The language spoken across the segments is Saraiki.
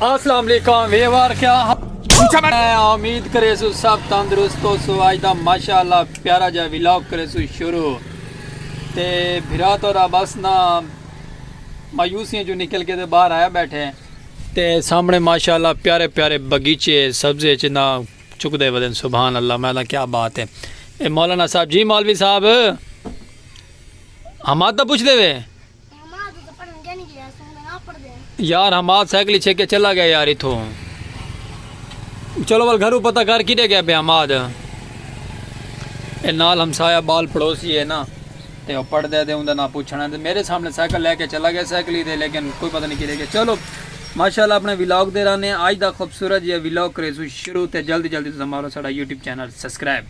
السلام علیکم ویوار کیا امید کرے سو سب تندرست ہو سو آج دا ماشاءاللہ پیارا جا ویلاگ کرے سو شروع تے بھرا تو را بس نا مایوسیاں جو نکل کے دے باہر آیا بیٹھے تے سامنے ماشاءاللہ پیارے پیارے بگیچے سبزے چنا چک دے ودن سبحان اللہ میں کیا بات ہے اے مولانا صاحب جی مولوی صاحب حماد دا پوچھ دے وے یار حماد سائیکل چھے کے چلا گیا یار اتھو چلو وال گھرو پتہ کر کیٹے گیا بے حماد اے نال ہمسایا بال پڑوسی ہے نا تے او پڑھ دے دے ہوں دے نا پوچھنا ہے میرے سامنے سائیکل لے کے چلا گیا سائیکل ہی دے لیکن کوئی پتہ نہیں کیٹے گیا چلو ماشاءاللہ اپنے ویلاگ دے رہنے ہیں آج دا خوبصورت یہ ویلاگ کریسو شروع تے جلدی جلدی تو سمارو ساڑا YouTube channel subscribe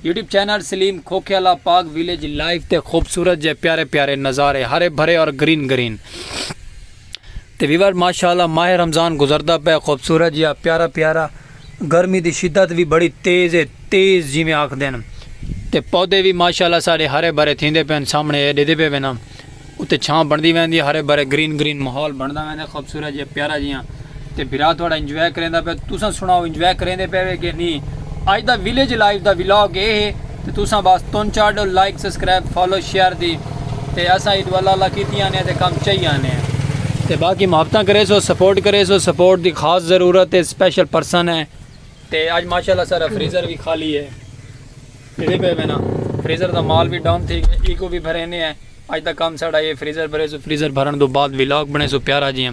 YouTube channel Saleem Khokhiala Pak village live تے خوبصورت جے پیارے پیارے نظارے ہرے بھرے اور گرین گرین تے ویور ماشاءاللہ ماہ رمضان گزردا پے خوبصورت جیا پیارا پیارا گرمی دی شدت وی بڑی تیز ہے تیز جویں آکھدن تے پودے وی ماشاءاللہ ساڈے ہرے بھرے تھیندے پن سامنے اے ڈیدے پے وینا اتے چھاں بݨدی ویندی ہے ہرے بھرے گرین گرین ماحول بݨدا ویندا ہے خوبصورت جیہا پیارا جیہا تے بھرا تہاݙا انجوائے کرینداں پئے تساں سݨاؤ انجوائے کریندے پئے وے کہ نی اڄ دا ویلیج لائف دا ولاگ اے ہے تے تساں بس تن چار ݙو لائک سبسکرائب فالو شیئر دی تے اساں عید والا اللہ کیتی آنے تے کم چائی آنے تے باقی محبتاں کریسو سپورٹ کریسو سپورٹ دی خاص ضرورت ہے سپیشل پرسن ہے تے اڄ ماشاءاللہ سارا فریزر وی خالی ہے۔ پھرے پئے وینا فریزر دا مال وی ڈاؤن تھی گئے ایکو وی بھرینے ہیں اج دا کم ساڑا اے فریزر بھرے سو فریزر بھرن دو بعد ولاگ بنے سو پیارا جیاں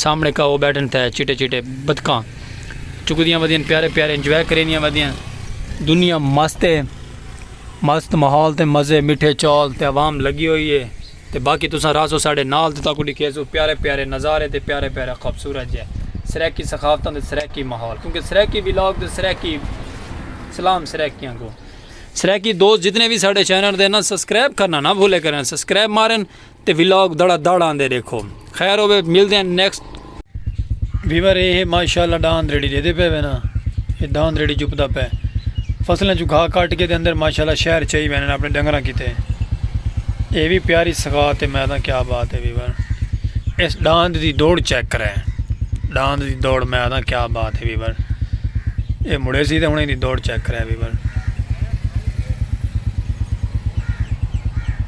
سامنے کا او بیٹھن تھے چٹے چٹے بدکاں چکدیاں ودین پیارے پیارے انجوائے کرینیاں ودین دنیا مست ہے مست ماحول تے مزے مٹھے چول تے عوام لگی ہوئی ہے تے باقی تساں راہسو ساڈے نال تے تہاکوں ڈکھیسوں پیارے پیارے نظارے تے پیارے پیارے خوبصورت جے سرائیکی ثقافتاں دے سرائیکی ماحول کیونکہ سرائیکی ولاگ تے سرائیکی سلام سرائیکیاں کوں سرائیکی دوست جتنے بھی ساڈے چینل دے نا سبسکرائب کرنا نہ بھولے کرن سبسکرائب مارن تے ولاگ دڑا دڑ آندے ڈیکھو خیر ہوے ملدے ہیں نیکسٹ ویور اے ہے ماشاءاللہ ڈاند ریڑی دے دے پے وینا اے ڈاند ریڑی چپدا پے فصلیں جو گھا کاٹ کے دے اندر ماشاءاللہ شہر چاہی وینا اپنے ڈنگراں کیتے اے بھی پیاری سگات ہے میدان کیا بات ہے ویور اس ڈاند دی دوڑ چیک کرے ڈاند دی دوڑ میدان کیا بات ہے ویور اے مڑے سی تے ہنے دی دوڑ چیک کرے ویور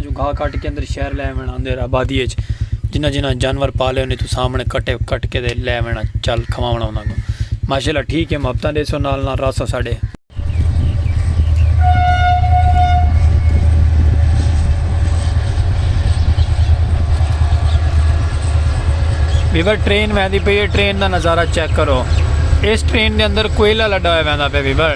جو گھا کٹ کے اندر شہر لے وینا اندر آبادی اچ جنہ جنہ جانور پالے انہیں تو سامنے کٹے کٹ کے دے لے وینا چل کھواونا انہاں کو ماشاءاللہ ٹھیک ہے محبتاں دے سو نال نال راسو ساڈے ویور ٹرین ویندی پئی ہے ٹرین دا نظارہ چیک کرو اس ٹرین دے اندر کوئلہ لڈا ہویا ویندا پہ ویور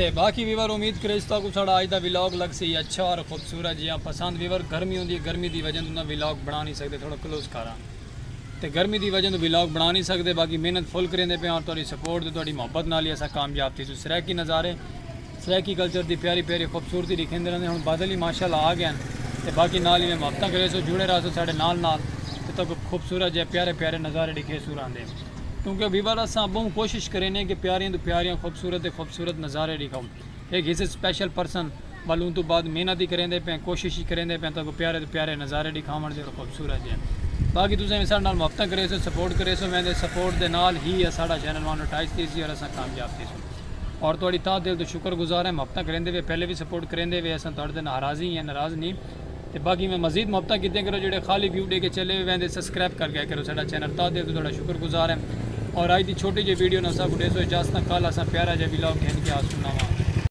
تے باقی ویور امید کریج تاکو ساڑا آج دا ویلاگ لگ سی اچھا اور خوبصورت جیاں پسند ویور گرمی ہوندی ہے گرمی دی وجہ دا ویلاگ بنا نہیں سکتے تھوڑا کلوز کارا تے گرمی دی وجہ دا ویلاگ بنا نہیں سکتے باقی محنت فل کریں دے پہ اور توڑی سپورٹ دے توڑی محبت نالی ایسا کامیاب تھی سو سریکی نظارے سرائیکی کلچر دی پیاری پیاری خوبصورتی ڈکھیندے رہندے ہن بادل ہی ماشاءاللہ آ گئن تے باقی نال ایویں محبتاں کریسو جڑے راہسو ساڈے نال نال تے تہاکوں خوبصورت جئے پیارے پیارے نظارے ڈکھیسوں راہندے کیونکہ ویور اساں بہوں کوشش کرینے کہ پیاریاں توں پیاریاں خوبصورت تے خوبصورت نظارے ڈکھاؤں ہک ہیس سپیشل پرسن ول اوں توں بعد محنت ہی کریندے پیاں کوشش ہی کریندے پیاں تہاکوں پیارے توں پیارے نظارے ڈکھاون دے اور خوبصورت جئے باقی تساں ایویں ساڈے نال محبتاں کریسو سپورٹ کریسو ویندے سپورٹ دے نال ہی اساڈا چینل وانو ٹائز تھیسی اور اساں کامیاب تھیسوں۔ اور تہاڈی تہہ دل توں شکر گزار ہیں محبتاں کریندے وے پہلے وی سپورٹ کریندے وے اساں تہاڈے دے ناراضی ہیں ناراض نی تے باقی میں مزید محبتاں کیتیاں کرو جیڑھے خالی ویو ڈے کے چلے ویندے سسکرائب کر گئے کرو ساڈا چینل تہہ دل توں تہاڈا شکر گزار ہیں اور اج دی چھوٹی جئی ویڈیو نال اساکوں ڈیسو اجازتاں کل اساں پیارا جیا ولاگ گھن کے آسوں نواں